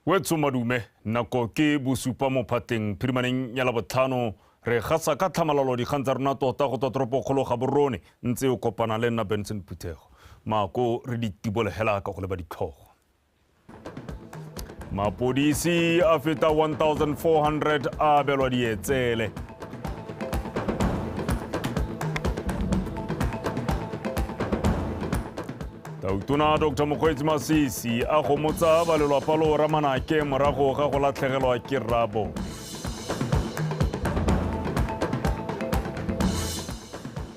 wetso madume nako ke bosupa mo phateng phirimaneng ya labotlhano re gasa ka tlhamalalo dikgang tsa rona tota go tswa toropokgolo ga borone ntse o kopana le nna benson phuthego mako re ditibolegela ka go leba ditlhogo mapodisi a feta 1400 a abelwa dietsele tautona dr mokgweetsi masisi a gomotsa ba lelwapa lo ramanake morago ga go latlhegelwa ke rabo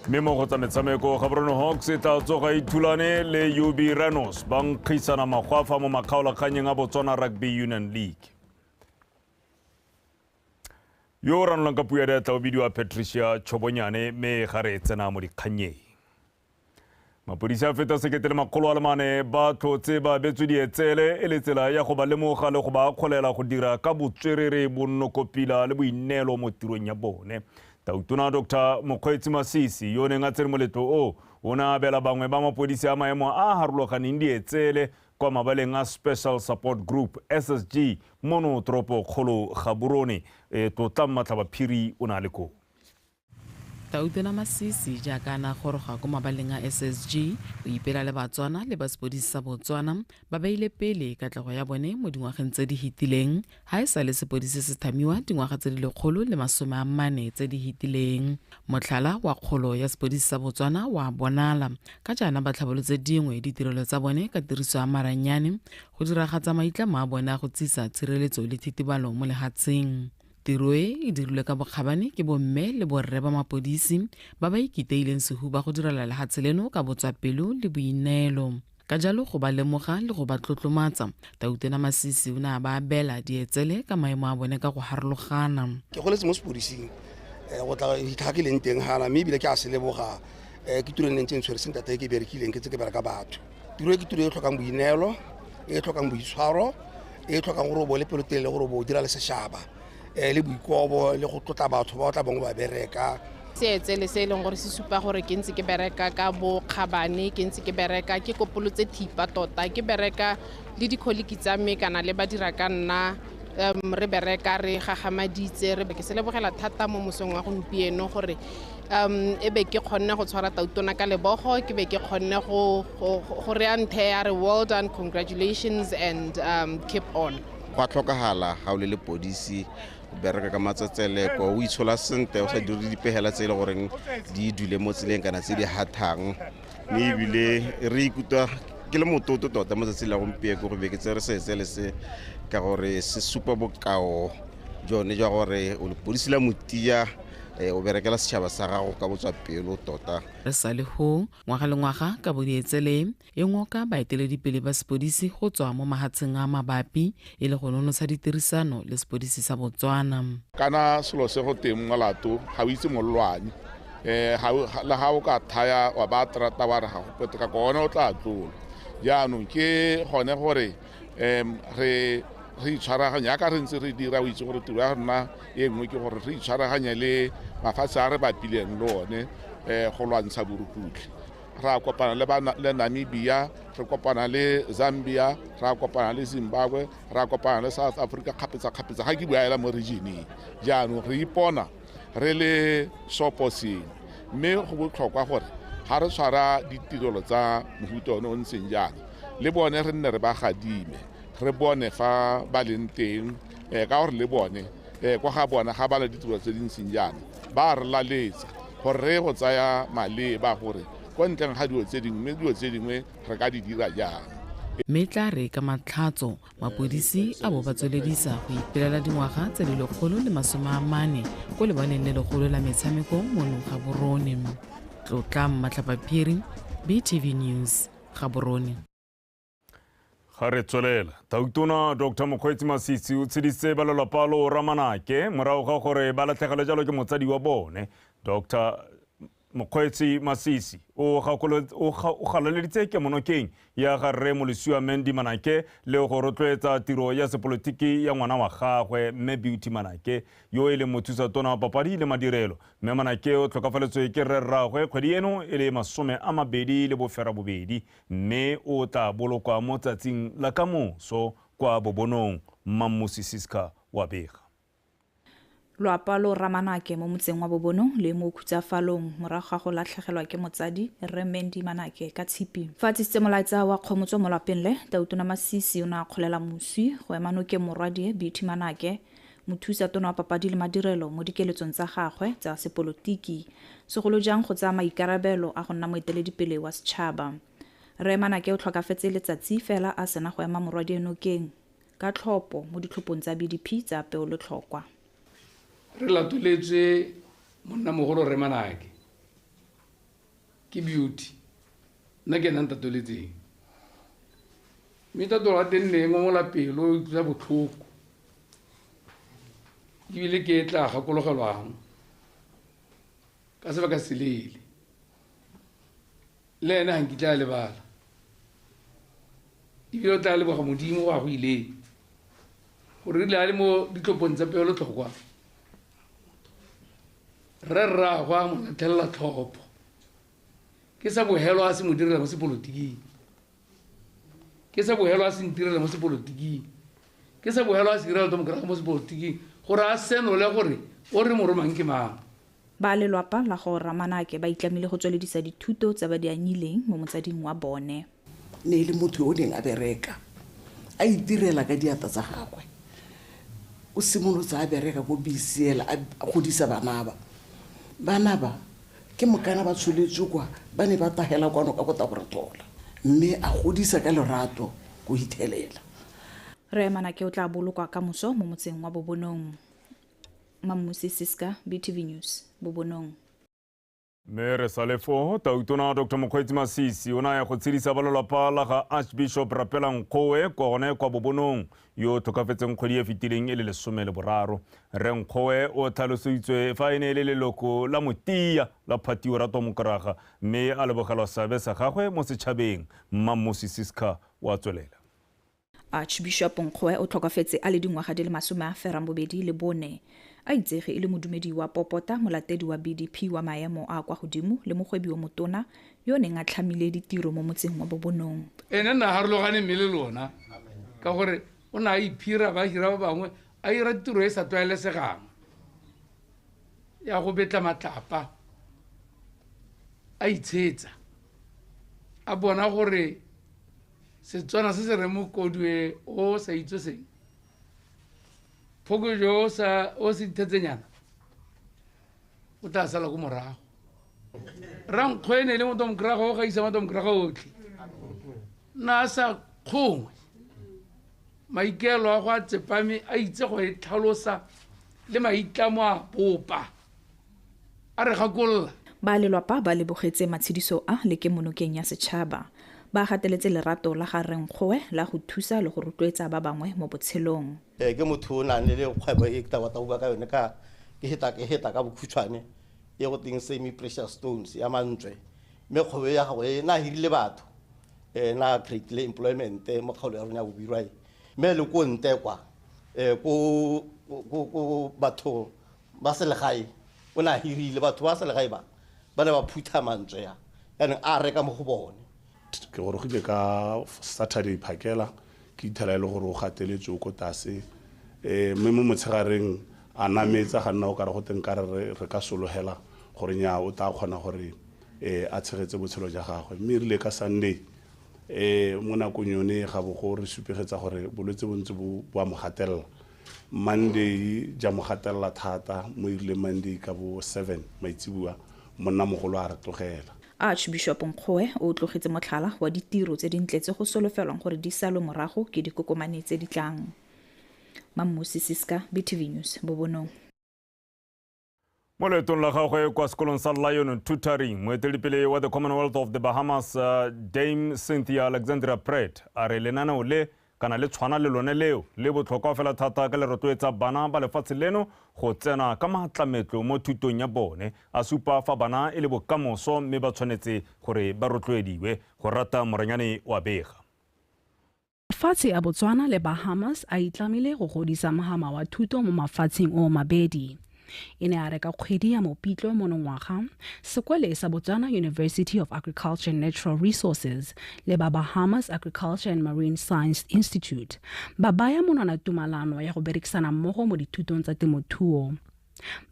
Mme mo go tsa metshameko, Gaborone Hawks e tla tsoga e thulane le UB Rhinos ba nkgisana magwafa mo makgaolakganyeng a Botswana Rugby Union League. Yo o ranolang ka puo ya diatla o bidiwa Patricia Chobonyane mme ga re tsena mo dikgannyeng. Mapodisi a feta sekete le makgolo a le mane ba tlhotse ba abetswe dietsele e le tsela ya go ba lemoga le go ba akgolela go dira ka botswerere, bonnokopila le boineelo mo tirong ya bone. Tautona Doctor Mokgweetsi Masisi yo o neng a tsere moletlo o o ne a abela bangwe ba mapodisi a maemo a a harologaneng dietsele kwa mabaleng a Special Support Group, SSG, mono toropokgolo Gaborone. E, Tlotlang Matlhabaphiri o ne a le koo. Tautela Masisi jaaka a ne a goroga ko mabaleng a SSG go ipela le Batswana le ba sepodisi sa Botswana ba beile pele katlego ya bone mo dingwageng tse di hitileng ha e sa le sepodisi se thamiwa dingwaga tse di lekgolo le masome a mmane tse di hitileng. Motlhala wa kgolo ya sepodisi sa Botswana wa bonala ka jaana ba tlhabolotse dingwe ditirelo tsa bone ka tiriso ya maranyane go diragatsa maitlamo a bone a go tsisa tshireletso le thitibalo mo lehatsheng. Tiro e e dirilwe ka bokgabane ke bomme le borre ba mapodisi ba ba ikiteileng sehuba go direla lehatshe leno ka botswapelo le boineelo. Ka jalo go ba lemoga le go ba tlotlomatsa, Tautona Masisi o ne a ba abela dietsele ka maemo a bone ka go harologana. Ke goletse mo sepodising eh, go tla fitlha ke leng teng gana mme ebile ke a se leboga eh, ke tiro e neng tse ntshwere sentate e ke berekileng ke tse ke bereka batho tiro e ke tiro e tlhokang boineelo e tlhokang boitshwaro e tlhokang gore o bo le pelotelele gore o bo o dira le sešaba um le boikobo le go tlotla batho ba o tla bong ba bereka seetse le se e leng gore se supa gore ke ntse ke bereka ka bokgabane ke ntse ke bereka ke kopolotse thipa tota ke bereka le dikholiki tsa me kana le ba dira ka nna um re bereka re gagamaditse re ke se lebogela thata mo mosong wa gompieno gore um e be ke kgonne go tshwara tautona ka lebogo ke be ke kgonne go reya nthe ya re well done congratulations and um, keep on gwa tlhokagala ga o le lepodisi bereka ka matsetseleko o itshola sentle o sa dire dipegela tse e le goreng di dule mo tseleng kana tse di hathang mme ebile re ikutlwa ke le mototo tota mo tsatsing la gompieko go be ke tse re setse le se ka gore se supa bokao jone jwa gore o lepodisi la motia eh, o berekela setšhaba sa gago ka botswa pelo tota re sa le go ngwaga le ngwaga ka bodietsele e ngoka baeteledipele ba sepodisi go tswa mo mahatsheng a mabapi e le go nonotsha ditirisano le sepodisi sa botswana kana selo se go teng molato ga o itse mollwane um le ga o ka thaya wa ba terata wa re ga go peteka gone o tla tlola jaanong ke gone gore um re re itshwaraganya yaka re ntse re dira o itse gore tiro ya rona e nngwe ke gore re itshwaraganya le mafatshe a re bapileng le one um go lwantsha borukutlhi ra kopana le namibia re kopana le zambia ra kopana le zimbabwe ra kopana le south africa kgapetsa-kgapetsa ga ke buaela mo regioneng jaanong re ipona re le seoposengwe mme go botlhokwa gore ga re tshwara ditirelo tsa mofuta one o ntseng jaana le bone re nne re ba gadime re bone fa ba leng teng um ka gore le bone um kwa ga bona ga ba le ditirelo tse di ntseng jaana ba re laletsa gore re go tsaya maleba gore ko ntleng ga dilo tse dingwe mme dilo tse dingwe re ka di dira jang mme tla re ka matlhatso mapodisi a bo ba tsweledisa go ipelela dingwaga tse le lekgolo le masome a mane ko lebaleng le legolo la metshameko mo nong ga borone tlotlang matlhapaphiri btv news ga borone ga re tswelela tautona dr mokgweetsi masisi o tshedisitse ba lelapa lo ramanake morago ga gore ba latlhegelwe jalo ke motsadi wa bone dr Mokgweetsi Masisi o galoleditse kemonokeng ya ga Rre Molosiwa Mandy Manake le go rotloetsa tiro ya sepolotiki ya ngwana wa gagwe Mme Beauty Manake yo e leng mothusa tona wa papadi le madirelo. Mme Manake o tlhokafaletswe ke rre rraagwe kgwedi eno e le masome a mabedi le bofera bobedi mme o tla bolokwa mo tsatsing la kamoso kwa Bobonong, Mmamosi Siska wa bega. lwapa lo ramanake mo motseng wa bobono le mo khutsafalong morago ga go latlhegelwa ke motsadi rre mendi manake ka tshipi fa tsisitse molaetsa wa kgomotso mo lwapeng le tautona masisi o ne a kgolela moswi go ema nokeng morwadie beauty manake mothusa tona wa papadi le madirelo mo dikeletsong tsa gagwe tsa sepolotiki segolo jang go tsaya maikarabelo a go nna moeteledipele wa setšhaba rre manake o tlhokafetse letsatsi fela a sena go ema morwadie nokeng ka tlhopho mo ditlhophong tsa BDP tsa peolotlhokwa. Re latoletswe Monnamogolo Rre Manake. Ke Beauty. Nna ke ena a ntatoletseng. Mme tatolo wa teng ne e ngomola pelo, e utlwisa botlhoko. Ebile ke e tla gakologelwang ka sebaka seleele le ene ga nkitla a lebala ebile o tla leboga modimo go a go ileng gore rile a le mo ditlopong tsa peelo tlhokwa re rragwa mo latlhelela tlhopho ke sa bogelo a se mo direla mo sepolotiking ke sa bogelo a se ntirela mo sepolotiking ke sa bogelo a se irela to mokorago mo sepolotiking gore a senole gore o re mo romang ke mang Ba lelwapa la go Rra Manake ba itlamile go tsweledisa dithuto tse ba di anyileng mo motsading wa bone. Ne e le motho yo o neng a bereka a itirela ka diata tsa gagwe. O simolotse a bereka ko BCL a godisa banaba. Banaba ke mokana ba tsholetswe kwa ba ne ba tagela kwano ka Botaboratola mme a godisa ka lorato go hithelela. Rre Manake o tla bolokwa ka moso mo motseng wa Bobonong. Mammusi Siska, BTV News, Bobonong. Mme re sa le foo, Tautona Dr Mokgweetsi Masisi o ne a ya go tshedisa ba lelapa la ga Archbishop Rapela Nkgoe kwa gone kwa Bobonong yo o tlhokafetseng kgwedi e fetileng e le lesome le boraro. Rre Nkgoe o tlhalosoitswe fa e ne e le leloko la motia la Phatio Ratwa Mokraga mme a lebogelwa seabe sa gagwe mo setšhabeng. Mmamosi Siska wa tswelela. Archbishop Nkgoe o tlhokafetse a le dingwaga di le masome a ferang bobedi le bone. A itsege e le modumedi wa popota, molatedi wa BDP wa maemo a a kwa godimo le mogwebi yo motona yo o neng a tlhamile ditiro mo motseng wa Bobonong. Ene nna harologane mme le lona ka gore o ne a iphira ba hira ba bangwe a ira tiro e e sa tlwaelesegang ya go betla matlapa a itshetsa a bona gore setswana se se re mokodue o sa itse seng phokojo o sa o se ithetsenyana o tla sala ko morago rankgo e ne le motho mokerago o gaisa motho mokerago otlhe na a sa kgongwe maikaelo a go a tsepame a itse go e tlhalosa le maitlamo a bopa a re gakolola. Ba lelwapa ba lebogetse matshediso a le kemonokeng ya setšhaba. Ba gateletse lerato la ga Rre Nkgoe la go thusa le go rotloetsa ba bangwe mo botshelong. Ee, ke motho yo o nang le kgwebo e ke tla batla go bua ka yone ka ke heta ke heta ka bokhutshwane e go teng semi precious stones ya mantswe mme kgwebo ya gago e na hirile batho e na create le employment mo kgaolo ya rona ya bobirwa e mme le ko nte kwa ko ko batho ba selegae o ne a hirile batho ba selegae ba ba ne ba phutha mantswe a yaanong a reka mo go bone ke gorogile ka saturday phakela ke ithela e le gore o gateletse o ko tase um mme mo motshegareng a nametsa ga nna o kare go teng ka re re ka sologela gore nya o tla kgona gore um a tshegetse botshelo ja gagwe mme e rile ka sunday um mo nakong yone ga bogo re supegetsa gore bolwetse bo ntse bo a mo gatelela Monday ja mo gatelela thata mo erile Monday ka bo 7 maitseboa monnamogolo a re tlogela. Archbishop Nkgoe o tlogetse motlhala wa ditiro tse dintle tse go solofelwang gore di salwe morago ke dikokomane tse di tlang. Mammusi Siska, BTV News, Bobonong. mo leetong la gagwe kwa sekolong sa lion tutoring moeteledipele wa the commonwealth of the bahamas uh, dame cynthia alexandria pret a re lenaneo le kana le tshwana le lone leo le botlhokwa fela thata ka le rotloetsa bana ba lefatshe leno go tsena ka maatlametlo mo thutong ya bone a supa fa bana e le bokamoso mme ba tshwanetse gore ba rotloediwe go rata moranyane wa bega Mafatshe a Botswana le Bahamas a itlamile go godisa mogama wa thuto mo mafatsheng o mabedi. E ne a reka kgwedi ya mopitlo monongwaga sekwele sa Botswana University of Agriculture and Natural Resources le ba Bahamas Agriculture and Marine Science Institute ba baya monwana tumalano ya go berekisana mmogo mo dithutong tsa temothuo.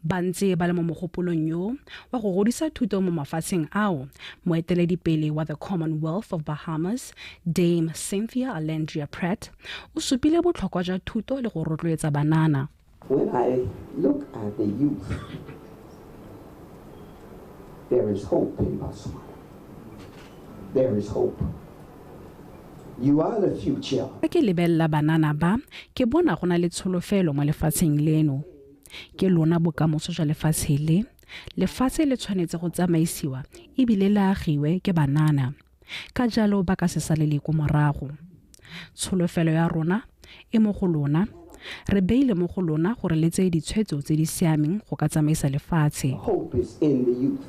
Ba ntse ba le mo mogopolong yo wa go godisa thuto mo mafatsheng ao, moeteledipele wa the Commonwealth of Bahamas, Dame Cynthia Alandria Pratt, o supile botlhokwa jwa thuto le go rotloetsa banana. When I look at the youth, there is hope in Botswana. There is hope. You are the future. Fa ke lebelela banana ba, ke bona go na le tsholofelo mo lefatsheng leno. Ke lona bokamoso jwa lefatshe le. Lefatshe le tshwanetse go tsamaisiwa e bile le agiwe ke banana. Ka jalo ba ka se salele ko morago. Tsholofelo ya rona e mo go lona. Re beile mo go lona gore le tseye ditshwetso tse di siameng go ka tsamaisa lefatshe. Our hope is in the youth.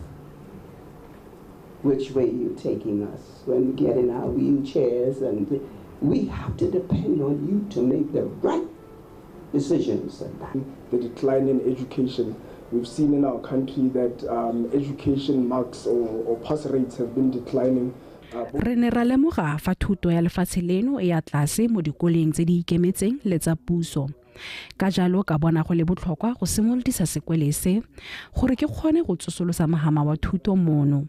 Which way you taking us when we get in our wheelchairs and we have to depend on you to make the right decision center. The decline in education. We've seen in our country that um, education marks or, or pass rates have been declining. Uh, re ne ra lemoga fa thuto ya lefatshe leno e ya tlase mo dikoleng tse di ikemetseng le tsa puso ka jalo ka bona go le botlhokwa go simolodisa sekwele se gore ke kgone go tsosolosa mogama wa thuto mono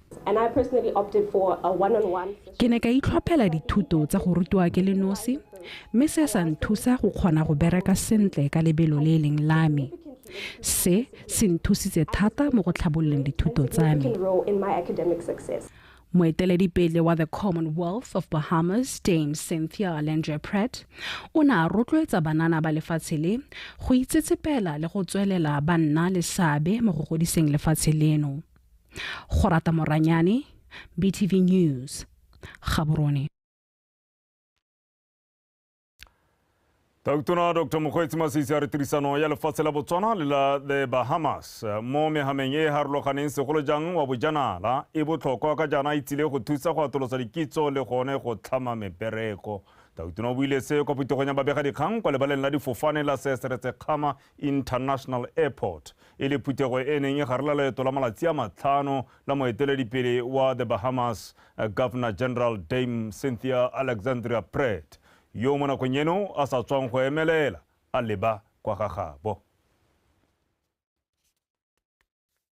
Ke ne ka itlhophela dithuto tsa go rutiwa ke le nosi, mme se sa nthusa go kgona go bereka sentle ka lebelo le e leng la me. Se se nthusitse thata mo go tlhabololeng dithuto tsa me. Moeteledipele wa The Commonwealth of Bahamas, Dame Cynthia Alendrea Pratt, o ne a rotloetsa banana ba lefatshe le go itsetsepela le go tswelela ba nna le seabe mo go godiseng lefatshe leno. go rata moranyane btv news gaborone Tautona Dr. Mokgweetsi Masisi a re tirisano ya lefatshe la Botswana le la The Bahamas eh, mo megameng e e harologaneng segolo jang wa bojanala e botlhokwa ka jaana e tsile go thusa go atolosa dikitso le gone go tlhama mebereko. Tautona o buile se kwa putegong ya babegadikgang kwa lebaleng la difofane la seseretse kgama International Airport e le phuthego e neng e gare la loeto la malatsi a matlhano la moeteledipele wa The Bahamas Governor General Dame Cynthia Alexandria Pratt yo mo nakong eno a sa tswang go emelela a leba kwa ga gabo.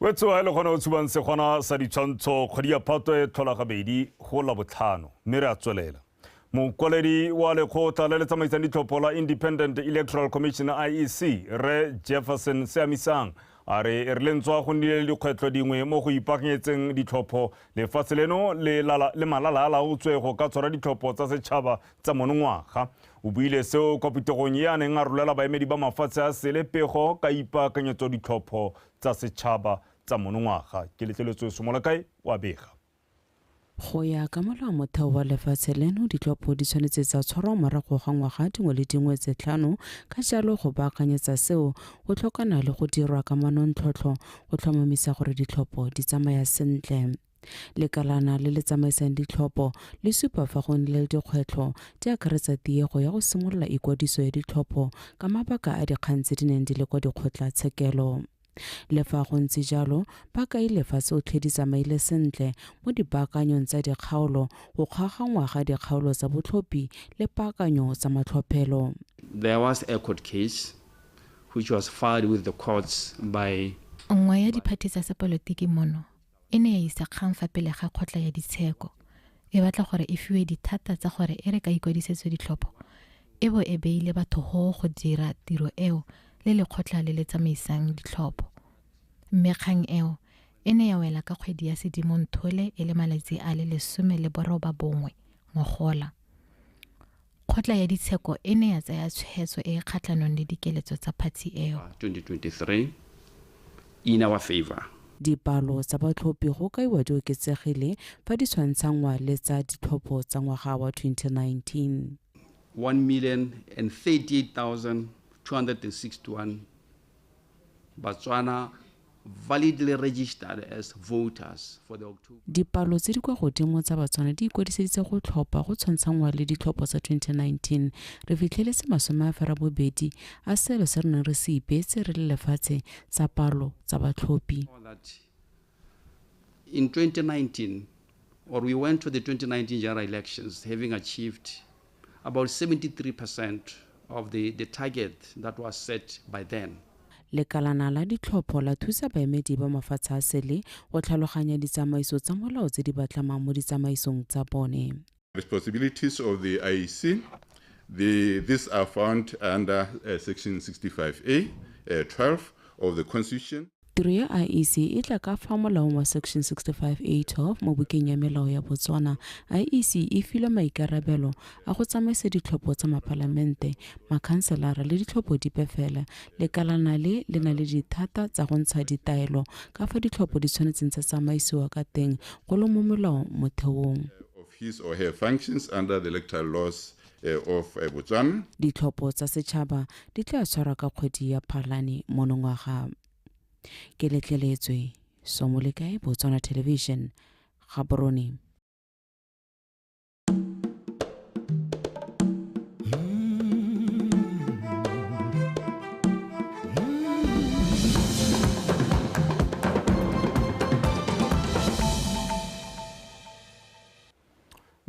Wetso a e le gona o tshubang segwana sa ditshwantsho kgwedi ya Phatwe e tlhola gabedi go la botlhano, mme re a tswelela. Mokwaledi wa lekgotla le le tsamaisang ditlhopho la Independent Electoral Commission, IEC, Rre Jefferson Seamisang a re e re lentswa go nnile le dikgwetlho dingwe mo go ipaakanyetseng ditlhopho lefatshe leno le malalaalaotswe go ka tshwara ditlhopho tsa setšhaba tsa monongwaga. O buile seo kwa putegong e a neng a rolela baemedi ba mafatshe a sele pego ka ipaakanyetso ditlhopho tsa setšhaba tsa monongwaga. Ke letleletswe Somolakae wa bega. Go ya ka molao motheo wa lefatshe leno, ditlhopho di tshwanetse tsa tshwarwa morago ga ngwaga dingwe le dingwe tse tlhano, ka jalo go baakanyetsa seo go tlhokana le go dirwa ka manontlhotlho go tlhomamisa gore ditlhopho di tsamaya sentle. Lekalana le le tsamaisang ditlhopho le supa fa go nnile le dikgwetlho di akaretsa tiego ya go simolola ikwadiso ya ditlhopho ka mabaka a dikgang tse di neng di le kwa dikgotlatshekelo. Le fa go ntse jalo, ba kaile fa tsotlhe di tsamaile sentle mo dipaakanyong tsa dikgaolo, go kgaoganngwa ga dikgaolo tsa botlhophi le paakanyo tsa matlhophelo. There was a court case which was filed with the courts by Nngwe ya diphathi tsa sepolotiki mono, e ne ya isa kgang fa pele ga kgotla ya ditsheko e batla gore e fiwe dithata tsa gore e re ka ikwadisetswe ditlhopho e bo e beile batho go go dira tiro eo le lekgotla le le tsamaisang ditlhopho mme kgang eo e ne ya wela ka kgwedi ya sedimonthole e le malatsi a le lesome le boroba bongwe ngogola Kgotla ya ditsheko e ne ya tsaya tshwetso e e kgatlhanong le dikeletso tsa phatsi eo. 2023 in our favour. Dipalo tsa batlhophi go kaiwa di oketsegile fa di tshwantshanngwa le tsa ditlhopho tsa ngwaga wa 2019. 1,038,261 Batswana validly registered as voters for the October. Dipalo tse di kwa godimo tsa Batswana di ikwadiseditse go tlhopha go tshwantshanngwa le ditlhopho tsa 2019. Re fitlheletse masome a ferabobedi a selo se re neng re se ipeetse re le lefatshe sa palo tsa batlhophi. In 2019, or we went to the 2019 general elections having achieved about 73% of the, the target that was set by then. lekalana la ditlhopho la thusa baemedi ba mafatshe a sele go tlhaloganya ditsamaiso tsa molao tse di batlamang mo ditsamaisong tsa bone responsibilities of the IEC. The, these are found under uh, Section 65A, uh, 12 of the Constitution. tiro ya iec e tla ka fa molaong wa section 65a12 mo bukeng ya melao ya botswana iec e filwe maikarabelo a go tsamaisa ditlhopho tsa mapalamente makhanselara le ditlhopho dipe fela lekalana le le na le dithata tsa go ntsha ditaelo ka fa ditlhopho di tshwanetseng tsa tsamaisiwa ka teng go le mo molaong motheong of his or her functions under the electoral laws eh, of eh, Botswana. Ditlhopho tsa setšhaba di tla tshwarwa ka kgwedi ya Phalane monongwaga. Ke letleletswe Somolekae Botswana Television, Gaborone.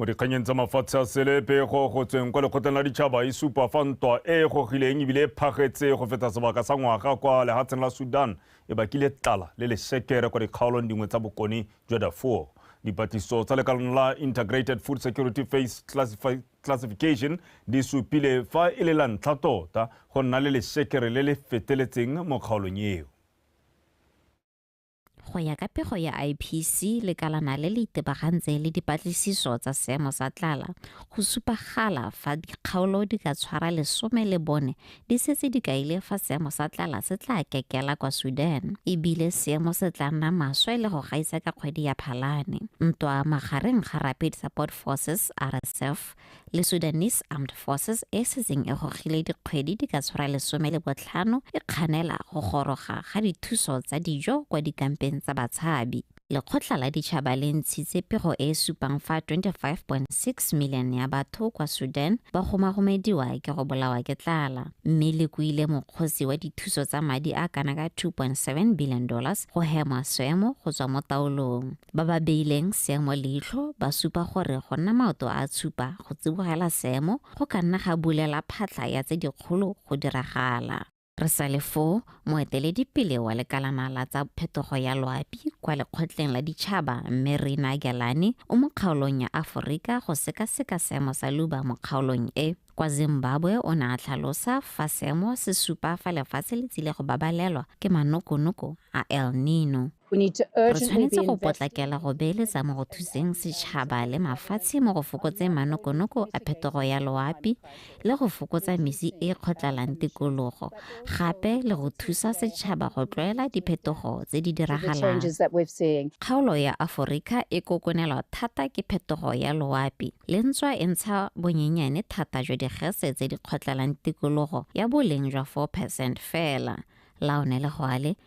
mo dikganyeng tsa mafatshe a sele pego go tsweng kwa lekgotleng la ditšhaba e supa fa ntwa e e gogileng ebile e phagetse go feta sebaka sa ngwaga kwa lehatsheng la sudan e bakile tlala le lesekere kwa dikgaolong dingwe tsa bokone jwa darfur dipatlisiso tsa lekalong la integrated food security face classification di supile fa e le la ntlha tota go nna le lesekere le le feteletseng mo kgaolong eo Go ya ka pego ya IPC, lekalana le le itebagantse le dipatlisiso tsa seemo sa tlala, go supagala fa dikgaolo di ka tshwara lesome le bone di setse di kaile fa seemo sa tlala se tla kekela kwa Sudan e bile seemo se tla nna maswe le go gaisa ka kgwedi ya Phalane. Ntwa magareng ga Rapid Support Forces, RSF, le Sudanese Armed Forces e setseng e gogile dikgwedi di ka tshwara lesome le botlhano e kganela go goroga ga dithuso tsa dijo kwa dikampeng tsa batshabi. Lekgotla la Ditšhaba le ntshitse pego e e supang fa 25.6 milione ya batho kwa Sudan ba gomagomediwa ke go bolawa ke tlala, mme le kuile mokgosi wa dithuso tsa madi a kana ka 2.7 billion dollars go hema seemo go tswa mo taolong. Ba ba beileng seemo leitlho ba supa gore go nna maoto a a tshupa go tsibogela seemo go ka nna ga bulela phatlha ya tse dikgolo go diragala. Re sa le foo, moeteledipele wa Lekalana la tsa Phetogo ya Loapi kwa Lekgotleng la Ditšhaba, Mme Rina Gyalani, o mo kgaolong ya Aforika go sekaseka seemo sa luba mo kgaolong e. Kwa Zimbabwe o ne a tlhalosa fa seemo se supa fa lefatshe le tsile go babalelwa ke manokonoko a El Nino. Re tshwanetse go potlakela go beeletsa mo go thuseng setšhaba le mafatshe mo go fokotseng manokonoko a phetogo ya loapi le go fokotsa mesi e e kgotlalang tikologo, gape le go thusa setšhaba go tlwaela diphetogo tse di diragalang. Kgaolo ya Aforika e kokonelwa thata ke phetogo ya loapi, le ntswa e ntsha bonyenyane thata jwa digese tse di kgotlalang tikologo ya boleng jwa 4 percent fela. Laonele Goale,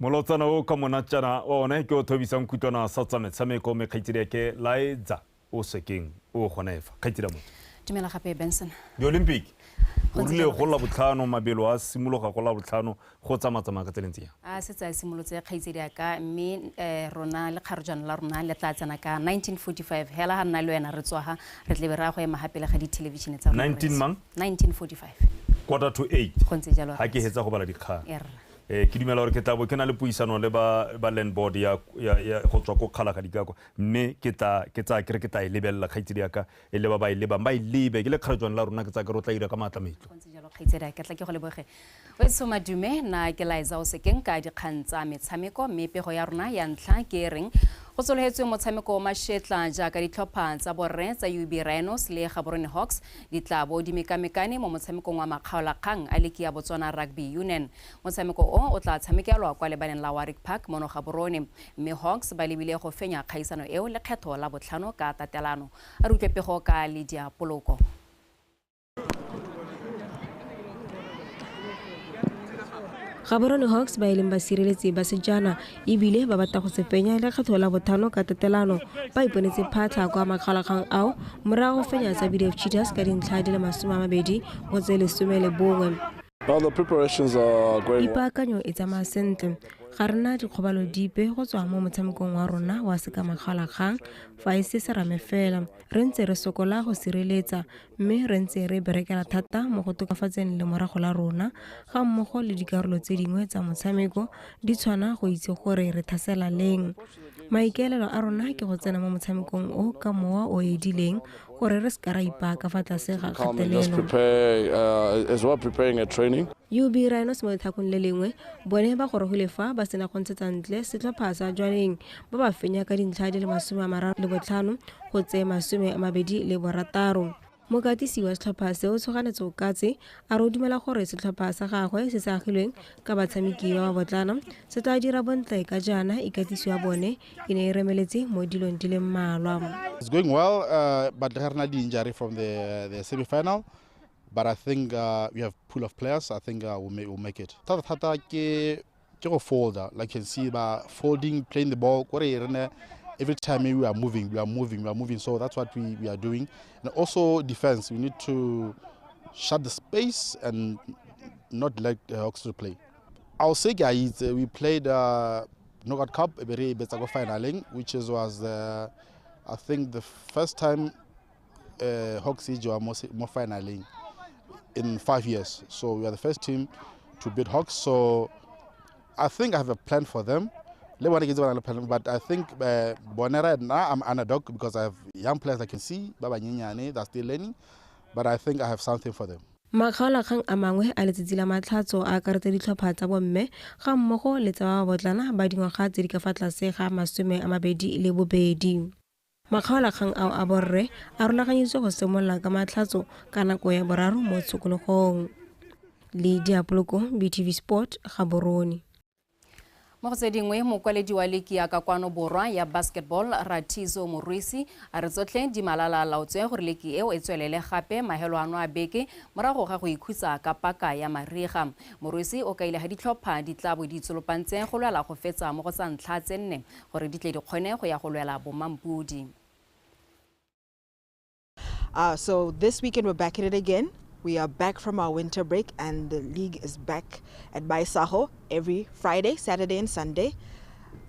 Molotsana o ka monatjana wa ona ke o thobisang kutlwana sa tsa metshameko mme kgaitsedi ake Laedza o sekeng o gona efa kgaitsedi a motho. Dumela gape Benson. Di-Olympic o rile go la botlhano mabelo a simologa go la botlhano go tsamatsamaya ka tseleng tseya. A se tsa simolotse kgaitsedi aka mme eh, rona le kgarojana la rona le tla tsena ka 1945 hela ha nna le wena re tswaha re tlebe ra go ema gape le ga dithelevishene tsa rona. 19 mang? 1945. Quarter to 8. Go ntse jalo. Ha ke hetsa go bala dikgang. Erra. Eh, ke dumela gore ke tla bo ke na le puisano le ba ba land board ya ya- ya- go tswa ko kgalaga dikakwa mme ke tla ke tsa kere ke tla e lebelela kgaitsedi yaka e le ba ba e lebang ba e lebe ke le kgarejwane la rona ke tsa kere o tla ira ka maatla metlo Go ntse jalo kgaitsedi ke tla ke go leboge weso madume na ke laetsa o sekeng ka dikgang tsa metshameko mme pego ya rona ya ntlha ke e reng go tsologetswe motshameko o mashetla jaaka ditlhopha tsa borre tsa ub rhinos le gaborone hawks Di tla bo di mekamekane mo motshamekong wa makgaolakgang a liki ya Botswana Rugby Unen. Motshameko o o tla tshamekelwa kwa lebaleng la Warwick Park mono Gaborone, mme Hawks ba lebile go fenya kgaisano eo lekgetho la botlhano ka tatelano. A re utlwe pego ka Lydia Poloko. Gaborone Hawks ba e leng basireletsi ba Sejana e bile ba batla go se fenya lekgetho la bothano ka tatelano ba iponetse phatlha kwa makgalakgang ao morago go fenya tsa bdf cheaters ka dintlha di le masome a mabedi go tse lesome le bongwe ipaakanyo e tsamaya sentle ga rena dikgobalo dipe go tswa mo motshamekong wa rona wa sekamakgalakgang fa e se serame fela re ntse re sokola go sireletsa mme re ntse re berekela thata mo go tokafatseng lemorago la rona ga mmogo le dikarolo tse dingwe tsa motshameko di tshwana go itse gore re thasela leng maikaelelo a rona ke go tsena mo motshamekong o ka mowa o edileng gore re seka ra ipaka fa tlase ga kgatelelo UB Rhinos mo letlhakong le lengwe bone ba gorogile fa ba sena go ntshetsa ntle setlhopha sa Jwaneng ba ba fenya ka dintlha di le masome a mararo le botlhano go tse masome a mabedi le borataro mokatisi wa setlhopha se o tshoganetse okatse a re o dumela gore setlhopha sa gagwe se se agilweng ka batshameki ba ba botlana se tla dira bontle ka jaana ikatiso ya bone e ne e remeletse mo dilong di le mmalwa It's going well, uh, but there are injury from the, the semi-final. But I think uh, we have pool of players. I think uh, we'll, make, we'll make it. Thata thata ke ke go folder like can see ba folding playing the ball kore re ne every time we are moving we are moving we are moving so that's what we, we are doing and also defense we need to shut the space and not let uh, hawks to play i'll say guys uh, we played uh, knockout cup ebere betsago finaling which is, was uh, i think the first time uh, Hawks Ijoa more finally in five years. So we are the first team to beat Hawks. So I think I have a plan for them. But I think uh, Bonera now I'm underdog because I have young players I can see, Baba Nyinyane, they're still learning. But I think I have something for them. makgaolakgang a mangwe a letsatsi la matlhatso a akaretsa ditlhopha tsa bomme ga mmogo le tsa ba botlana ba dingwaga tse di ka fa tlase ga masome a mabedi le bobedi Makgaolakgang ao a borre a rulaganyetswe go simolola ka matlhatso ka nako ya boraro mo tshokologong. Le Diapoloko, BTV Sport, Gaborone. Mo go tse dingwe, mokwaledi wa liki ya ka kwano borwa ya basketball Rathizo Morwesi a re tsotlhe di malala a laotswe gore liki eo e tswelele gape mahelo ano a beke morago ga go ikhutsa ka paka ya mariga. Morwesi o kaile ga ditlhopha di tla bo di itsolopantse go lwela go fetsa mo go tsa ntlha tse nne Gore di tle di kgone go ya go lwela bomampodi. Uh, so this weekend we're back at it again. We are back from our winter break, and the league is back at Baisaho every Friday, Saturday, and Sunday.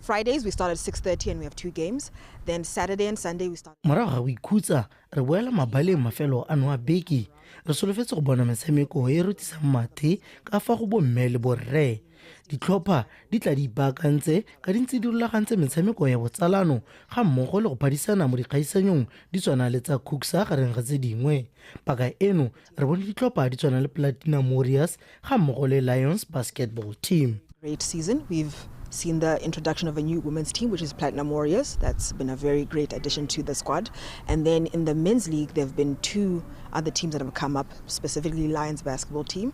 Fridays we start at 6:30 and we have two games. Then Saturday and Sunday we start. Morago ga go ikhutsa, re boela mabaleng mafelo a noa beke. Re solofetse go bona metshameko e e rotisang mathe ka fa go bomme le borre. Ditlhopha di tla di ipaakantse ka di ntse di rulagantse metshameko ya botsalano ga mmogo le go phadisana mo dikgaisanyong di tshwana le tsa Cooksa gareng ga tse dingwe. Paka eno re bone ditlhopha di tshwana le Platinum Warriors ga mmogo le Lions Basketball Team. Great season. We've seen the introduction of a new women's team, which is Platinum Warriors. That's been a very great addition to the squad. And then in the men's league, there have been two other teams that have come up, specifically Lions basketball team.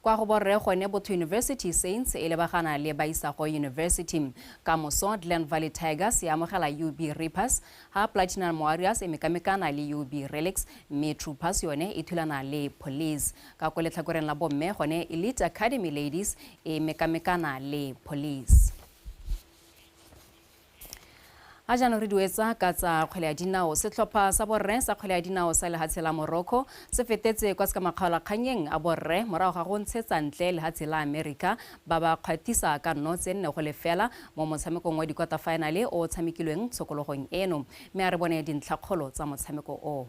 Kwa go borre gone Botho University Saints e lebagana le Baisago University. Kamoso Glen Valley Tigers e amogela UB Reapers, ha Platinum Warriors e mekamekana le UB Relics mme Troopers yone e thulana le Police. Ka ko letlhakoreng la bomme gone Elite Academy Ladies e mekamekana le Police. A jaanong re duetsa ka tsa kgwele ya dinao. Setlhopha sa borre sa kgwele ya dinao sa lehatshe la Morocco se fetetse kwa sekamakgaolakganyeng a borre morago ga go ntshetsa ntle lehatshe la America ba ba kgwathisa ka nno tse nne go lefela mo motshamekong wa dikwaterfinale o o tshamekilweng tshokologong eno. Mme a re bone dintlhakgolo tsa motshameko oo.